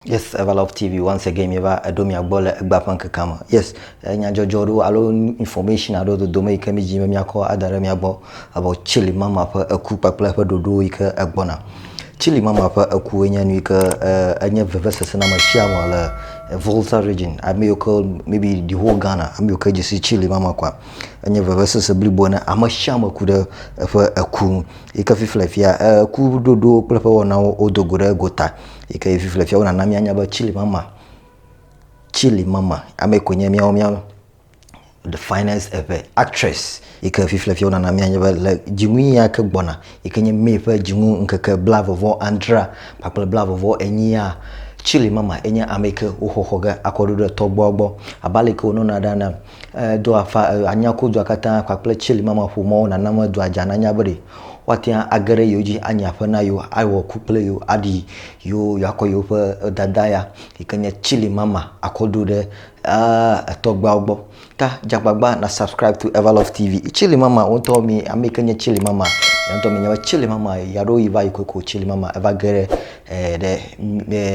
Yes, Everlove TV once again mieva eɖo mia gbɔ le egba ƒe ŋkekea me. Yes, eh, nyadzɔdzɔ ɖo alo information aɖo dodome yi ke mi dzi be miakɔ ada ɖe mia gbɔ abo Chili Mama ƒe eku kpakple eƒe ɖoɖowo yi ke egbɔna. Chili Mama ƒe eku enye nu yi ke eh, enye vevesese na ame sia ame le eh, Volta region, ame yiwo ke maybe the whole Ghana, ame yiwo ke dzi si Chili Mama kua. Enye vevesese blibo ne ame sia ame ku ɖe eƒe eku ŋu. Yi ke fifle fia eh, eku ɖoɖowo kple eƒe wɔnawo wodo go ɖe egota. yi ke vivi le fiawo nana míanya be Chile mama Chile mama ame ko nye míawo míawo the finest ever actress yi ke vivi le fiawo nana míanya be le dzinu ya ke gbɔna yi ke nye May ƒe dzinu ŋkeke bla vɔvɔ adre kpakple bla vɔvɔ enyia Chile mama enye ame yi ke woxɔxɔ ge akɔ ɖo ɖe tɔgbuawo gbɔ abe ale ke wonɔna ɖa na Edo afa anya ku dua katã kpakple tsili mama ƒo mɔwo nana me dua dza nanya be ɖe woate ŋu age ɖe yewo dzi anyi aƒe na yewo, awɔ ku kple yewo, aɖi yewo, yewoakɔ yewoƒe dada ya yi ke nye tsili mama akɔ ɖo ɖe etɔgbeawo gbɔ. Ta dze agbagba na subscribe to Everlove TV. Tsili mama wo ŋutɔ mi ame yi ke nye tsili mama ya ŋutɔ minya be tsili mama ya ɖo yi va yi kokoko tsili mama eva ge ɖe e ɖe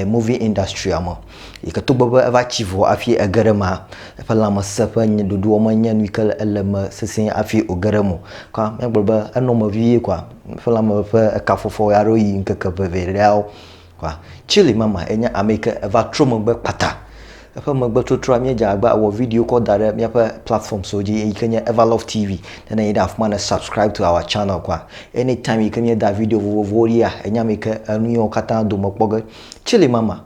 e movie industry-a me. yi ke togbɔ be eva tsi vɔ hafi ege ɖe emea, eƒe lãmesẽ ƒe ɖoɖoa menye nu yi ke le ele me sesĩe hafi wòge ɖe eme o. Ke míagblɔ be enɔ eme vie koa, eƒe lãme ƒe ekafɔfɔ aɖewo yi ŋkeke ʋeʋẽɖeawo koa, Chile mama ye nye ame yi ke eva trɔ megbe kpata. Eƒe megbetrɔtrɔa, míedze agbagba awɔ video kɔ da ɖe míaƒe platformswo dzi yi ke nye Everlove TV. Ne nèyi ɖe afi ma ne subscribe to our channel koa, anytime yi ke míeda video vovovowo ɖia, ènye ame yi ke enu yawo katã dome kpɔ ge. Chile mama.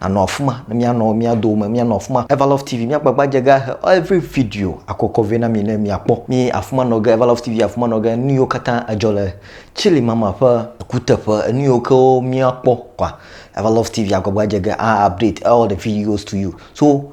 Anɔ afima ne mianɔ mia dome mianɔ afima Evalove TV mia gbagba dze ga he every video akɔkɔ vɛ na mi ne mia kpɔ mi afima nɔ ge Evalove TV afima nɔ ge nuyiwo katã edzɔ le chili mama ƒe kuteƒe enuyiwo ke mia kpɔ kɔa Evalove TV agbagba dze ge a update all the videos to you so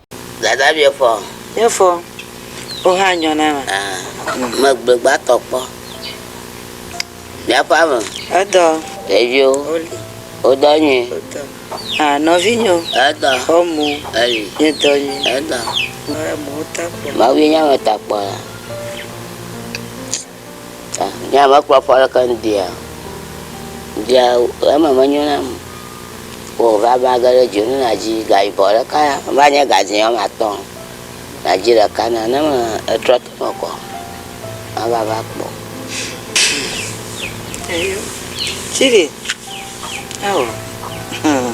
Dada bia fɔ. Bia fɔ. Wo hã nyɔ na ma. Ah, me gbe gba tɔ kpɔ. Bia fɔ ame. Edɔ. Ɖevio. Oli. O dɔ nyui. O dɔ. Ah, nɔvi nyɔ. Edɔ. Fɔ mo. Eli. Nye dɔ nyui. Edɔ. Mo ta kpɔ. Ma wi nya me ta kpɔ la. Nye ame kpɔa ƒe leke nu ɖia? Ɖia eme menyo nam o. Wò va va ge ɖe dzonu na dzi ga yibɔ ɖeka ya va nye ga dzi wɔme atɔ. Na dzi ɖeka na ne me etrɔ te me kɔ ma va va kpɔ. Eyo chili ao hum.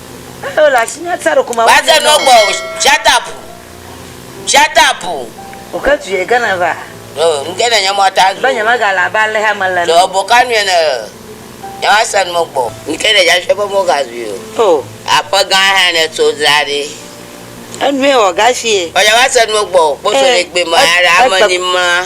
Wòade nu egbɔ o, Shatapu, shatapu. Ɖo nuke ne nye mɔ ta zu o. Ɖo ebo ka nue ne nyemase nu egbɔ o. Nuke ne nyasue be mɔ ga zui o. Aƒe gã hã ne tso dzra ɖi. Vɔ nyemase nu egbɔ o. Kposo ɖe gbe me aɖe ame ni mla.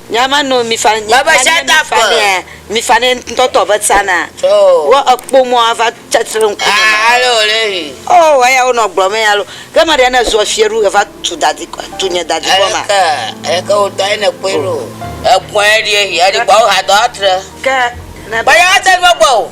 Nya ma nɔ mi fa nya ma nye mi fa nɛa mi fa nɛ ŋutɔ tɔ be tsa na wo ekpo mɔ ava tsa tre ŋku me ma o oh eya wo nɔ gblɔ mɛ alo ke ma ɖe ne zua fiɛ ɖu eva tu dadi kɔ tu nye dadi kɔ ma eke wo tɔ ene kpoe ɖo ekpoe ɖi ehi eɖi kpoa wo ha dɔ atre ke ne ba ya te ɖo gbɔ o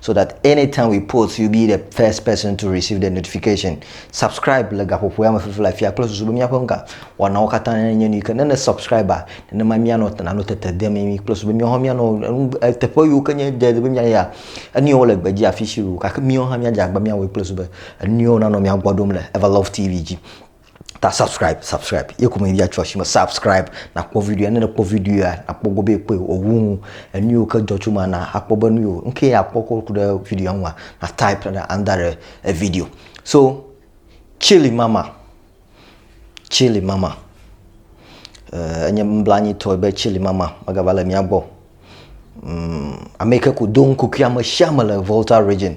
so that anytime we post you be the first person to receive the notification subscribe le gaƒoƒoe ame fifi le afia kple susu be míaƒe ŋga wɔnawo katã nye nu yi ke ne ne subscribe nenema míanɔ nanɔ tete de mimi kple susu be míawo hã míanɔ teƒe yiwo ke nye de be míayi ya enuyiwo le gbedzi afi si o gake míawo hã míadze agba míawɔe kple susu be enuyiwo nanɔ mía gbɔ ɖom le Everlove TV dzi ta subscribe subscribe ye ko me via tso asime subscribe nakpɔ video ne nekpɔ video ya nakpɔ gbɔ be kpɔe owu ŋu enu yiwo ke dzɔ tso ma na akpɔ be nu yiwo nuke akpɔ ko ku ɖe video ŋua na type ɖe anda ɖe e video so chili mama chili mama eh, enye nublanitɔ be chili mama megava le mía gbɔ mm, ame yi ke ku do ŋkukui ame sia ame le volta region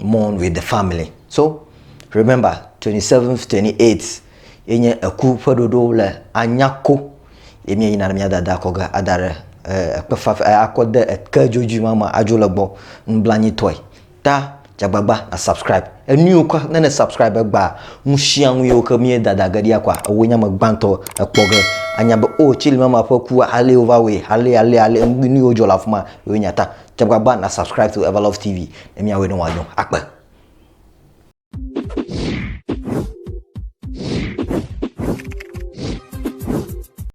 mourn with the family so remember 27 28 ye nye eku ƒe ɖoɖo le anyako ye mie yina ɖe mia dada kɔ ge ada ɖe eh, ekpe fafe eh, akɔ de eke dzodzi ma ma adzo le gbɔ nublanyi tɔe ta dzagbagba na subscribe enuiwo kwa ne ne subscribe gba ŋusiaŋu yiwo ke mie dada ge ɖia kwa ewo nyame gbãtɔ ekpɔ ge anya be o oh, tsili mama ƒe kua ale wova wɔe ale ale ale nuyiwo dzɔ le afima yewo nyata Tsɔ gbagba na subscribe to Everlove TV ne míawɔe ne wòanyo. Akpe.